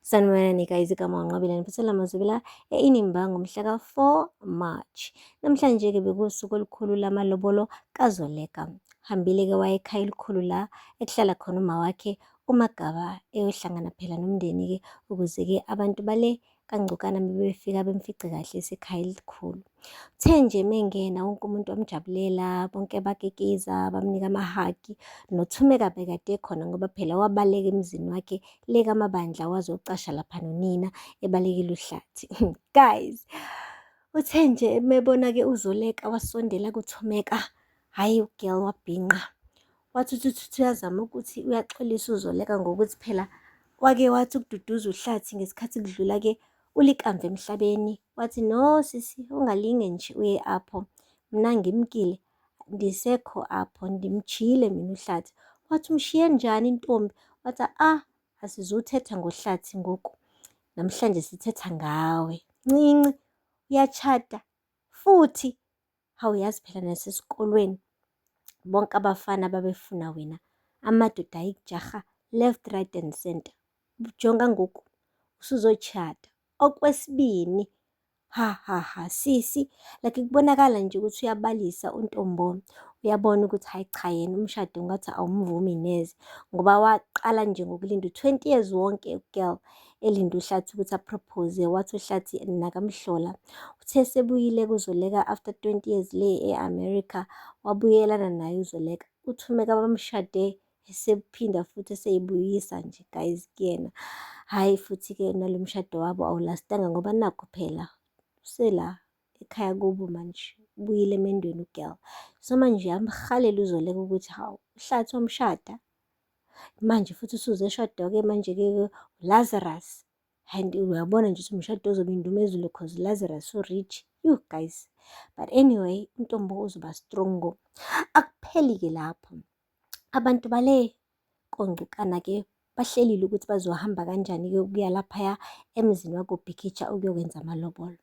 Sanibonani nikayizi kaMawunqabile niphathela amazwibela eInimba ngomhla ka-4 March. Namhlanje-ke bekuwusuku olukhulu lamalobolo kaZoleka. Hambile-ke wayekhaya elikhulu la ekuhlala khona uma wakhe uMagaba eyohlangana phela nomndeni-ke ukuze-ke abantu bale kangcokana bebefika bemfice kahle esekhaya elikhulu. Kuthe nje mengena wonke umuntu wamjabulela, bonke bakikiza, bamnika amahagi. NoThumeka bekade ekhona ngoba phela wabaleka emzini wakhe le kaMabandla waze wacasha lapha nonina ebalekile uhlathi. Guys, uthe nje mebona-ke uZoleka wasondela kuThumeka, hhayi ugirl wabhinqa. Wathi uthi uthi uyazama ukuthi uyaxolisa uZoleka ngokuthi phela wake wathi ukududuza uhlathi ngesikhathi kudlula-ke ulikamva emhlabeni Wathi, No sisi, ungalinge nje uye apho. Mna ngimkile, ndisekho apho, ndimjiyile mina uhlathi. Wathi, umshiye njani intombi? Wathi, ah, asizuthetha ngohlathi ngoku. Namhlanje sithetha ngawe. Ncinci, uyatshata futhi hawu yazi phela nasesikolweni bonke abafana babefuna wena amadoda ayikujaha left right and center jonga ngoku usuzochata okwesibini ha ha ha sisi like kubonakala nje ukuthi uyabalisa untombo uyabona ukuthi hayi cha yena umshado ngathi awumvumi neze ngoba waqala nje ngokulinda u-20 years wonke girl elinde uhlathi ukuthi apropose wathi uhlathi nakamhlola uthe sebuyile kuzoleka after 20 years le e-america wabuyelana naye uzoleka uthume kabamshade esephinda futhi eseyibuyisa nje guys kuyena hhayi futhi-ke nalo mshado wabo awulastanga ngoba nakho phela usela ekhaya kubo manje ubuyile emendweni ugirl so manje yamhalela uzoleka ukuthi hawu uhlathi wamshada manje futhi usuze eshada-ke manje-ke Lazarus and uyabona nje ukuthi umshado ozobe indumezulu cause Lazarus so rich you guys but anyway intombo uzoba strong ngo akupheli-ke lapho abantu bale kongcukana-ke bahlelile ukuthi bazohamba kanjani-ke ukuya laphaya emzini wakobhikitsha ukuyokwenza amalobolo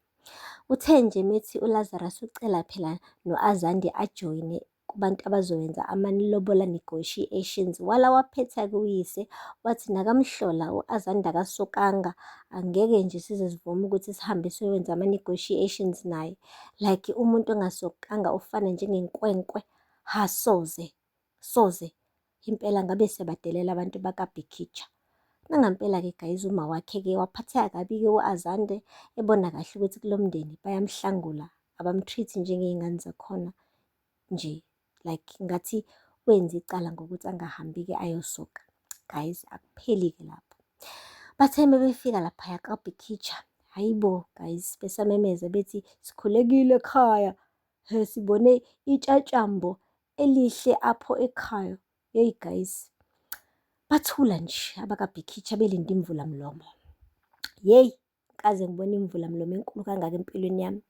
uthe nje methi ulazarus ucela phela no-azande ajoyine kubantu abazowenza amanilobola negotiations wala waphetha kuyise wathi nakamhlola u-azanda kasokanga angeke nje size sivume ukuthi sihambe siyowenza ama-negotiations naye like umuntu ongasokanga ufana njengenkwenkwe ha soze soze Impela ngabe siyabadelela abantu bakaBhikitsha. Nangampela-ke guys uma wakhe-ke waphatheka kabi-ke u-Azande ebona kahle ukuthi kulo mndeni bayamhlangula abamtreat njengey'ngane zakhona nje like ngathi wenze icala ngokuthi angahambi-ke ayosoka guys akupheli-ke lapho bathe mebefika laphaya kabhikitsha hhayi bo guys besamemeza bethi sikhulekile ekhaya he sibone itshatshambo elihle apho ekhaya yeyi guys bathula nje abakabhikhithi abelinde imvula mlomo yeyi kaze ngibona imvula mlomo enkulu kangaka empilweni yami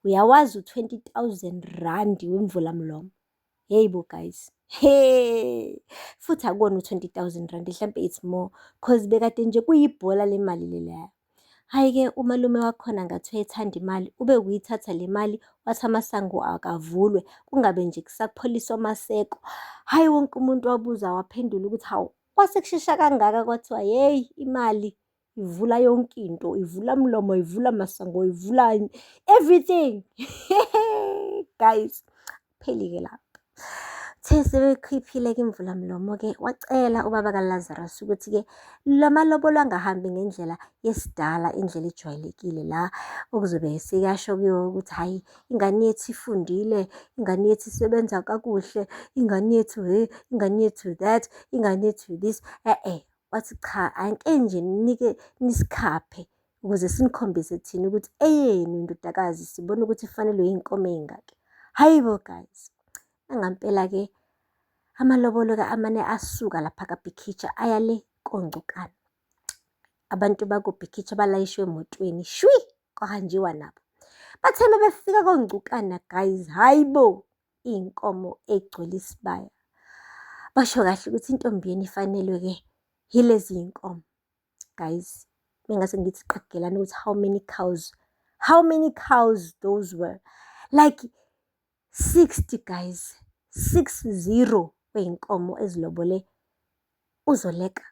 uyawazi u-20000 rand wemvula mlomo yeyi bo guys Hey, futhi akona u-20,000 rand, hlampe it's more cause bekade nje kuyibhola le mali leleya. Hhayi-ke umalume wakhona ngathi wayethanda imali, ube kuyithatha le mali wathi amasango akavulwe, kungabe nje kusapholiswa amaseko. Hhayi wonke umuntu wabuza waphendula ukuthi hawu, kwase kushesha kangaka kwathiwa yeyi imali ivula yonke into, ivula mlomo, ivula masango, ivula everything. Guys, Phelike lapho. Uthe sebekhiphile-ke imvulamlomo-ke wacela ubaba kaLazarus ukuthi-ke lo malobolo angahambi ngendlela yesidala indlela ejwayelekile la okuzobe sekasho kuyo ukuthi hhayi ingane yethu ifundile, ingane yethu isebenza kakuhle, ingane yethu he, ingane yethu that, ingane yethu this. E-e, wathi cha angike nje nike nisikhaphe ukuze sinikhombise thina ukuthi eyenu indodakazi sibona ukuthi ifanelwe iy'nkomo ey'ngaki hhayi bo guys nangampela-ke amalobolo-ke amane asuka lapha kabhikhitsha aya le kongcukana abantu bakobhikhitsha balayishwe emotweni shwi kwahanjiwa nabo bathe uma befika kongcukana guys hhayi bo iy'nkomo egcwele isibaya basho kahle ukuthi intombi yenu ifanelwe-ke yilezi y'nkomo guys bengase ngithi qagelani ukuthi how many cows how many cows those were like 60 guys 60 kweyinkomo ezilobole uzoleka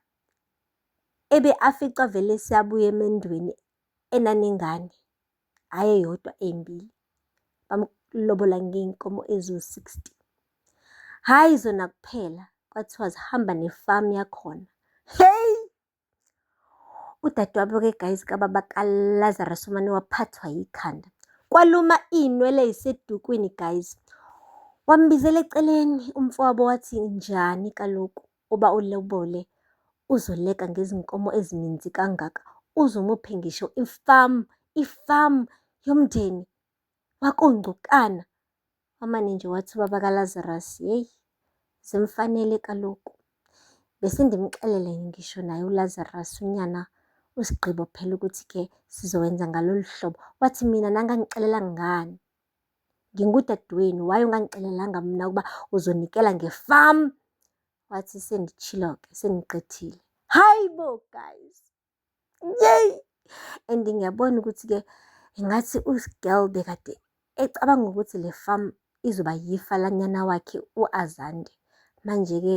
ebe afica vele siyabuya emendweni enanengane hhayi eyodwa ey'mbili, bamlobola ngey'nkomo eziwu-sixty. Hhayi zona kuphela, kwathiwa zihamba nefamu yakhona. Hheyi! Udadewabo-ke guys kababa kaLazarus umane waphathwa yikhanda. Kwaluma iy'nwele ey'sedukwini guys. Wambizela eceleni umfowabo wathi, njani kaloku? uba ulobole uzoleka ngezinkomo ezininzi kangaka uze umuphe ngisho ifamu ifamu yomndeni wakongcukana wamane nje wathi ubaba kalazarus yeyi zimfanele kaloku bese ndimxelele ngisho naye ulazarus unyana usigqibo phela ukuthi ke sizowenza ngalolu hlobo wathi mina nangangixelela ngani ngingudadewenu why ungangixelelanga mna ukuba uzonikela ngefam wathi senditshilo-ke sendiqethile hayi bo guys yey and ngiyabona ukuthi-ke ngathi uGirl bekade ecabanga ukuthi le farm izoba yifa lanyana wakhe uAzande. Manje-ke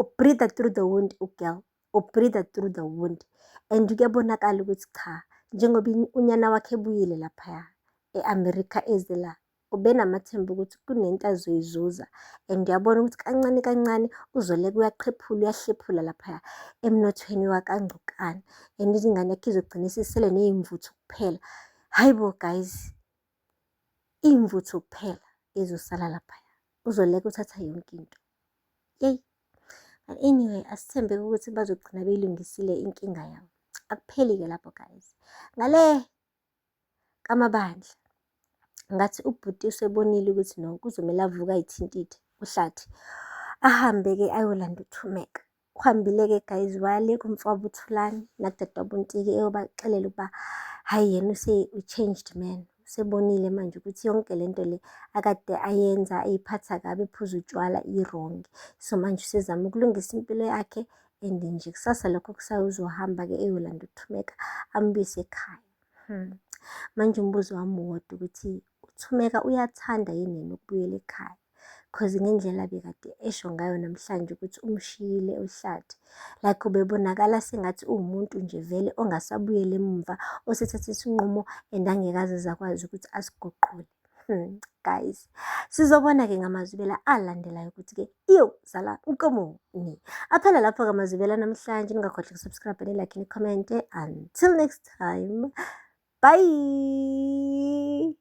ubreathe through the wound ugirl ubreathe through the wound and kuyabonakala ukuthi cha njengoba unyana wakhe ebuyile laphaya e-america eze la ubenamathemba ukuthi kunento azoyizuza and uyabona ukuthi kancane kancane uzoleka uyaqhephula uyahlephula laphaya emnothweni wakangcokane and izingane yakhe izogcina isisele neyimvuthu kuphela hhayi bo guys iy'mvuthu kuphela ezosala laphaya, uzoleka uthatha yonke into. Yeyi, but anyway asithembeke ukuthi bazogcina beyilungisile inkinga yabo. Akupheli-ke lapho guys. Ngale kamabandla ngathi ubhuti usebonile ukuthi no kuzomele avuke ayithintithe uhlathi ahambe-ke ayolanda uthumeka. uhambile-ke guys wale kumfwabo uthulani nakudadewabo untiki eyobaxelela ukuba hhayi yena use-changed man usebonile manje ukuthi yonke le nto le akade ayenza ayiphatha kabi ephuza utshwala irongi so manje usezama ukulungisa impilo yakhe and nje kusasa lokho kusawuzohamba-ke eyolanda uthumeka ambuyise ekhaya hmm. manje umbuzo wami wodwa ukuthi Thumeka uyathanda yini yena ukubuyela ekhaya cause ngendlela bekade esho ngayo namhlanje ukuthi umshiyile uhlathi like ubebonakala sengathi uwumuntu nje vele ongasabuyeli emumva osethathe isinqumo and angekaze zakwazi ukuthi asiguqule hmm, guys sizobona-ke ngamazwibela alandelayo ukuthi-ke iyo zala nkomoni aphela lapho-ke amazwibela namhlanje ningakhohlwa kusubscribe nilakhe nikhomente until next time bye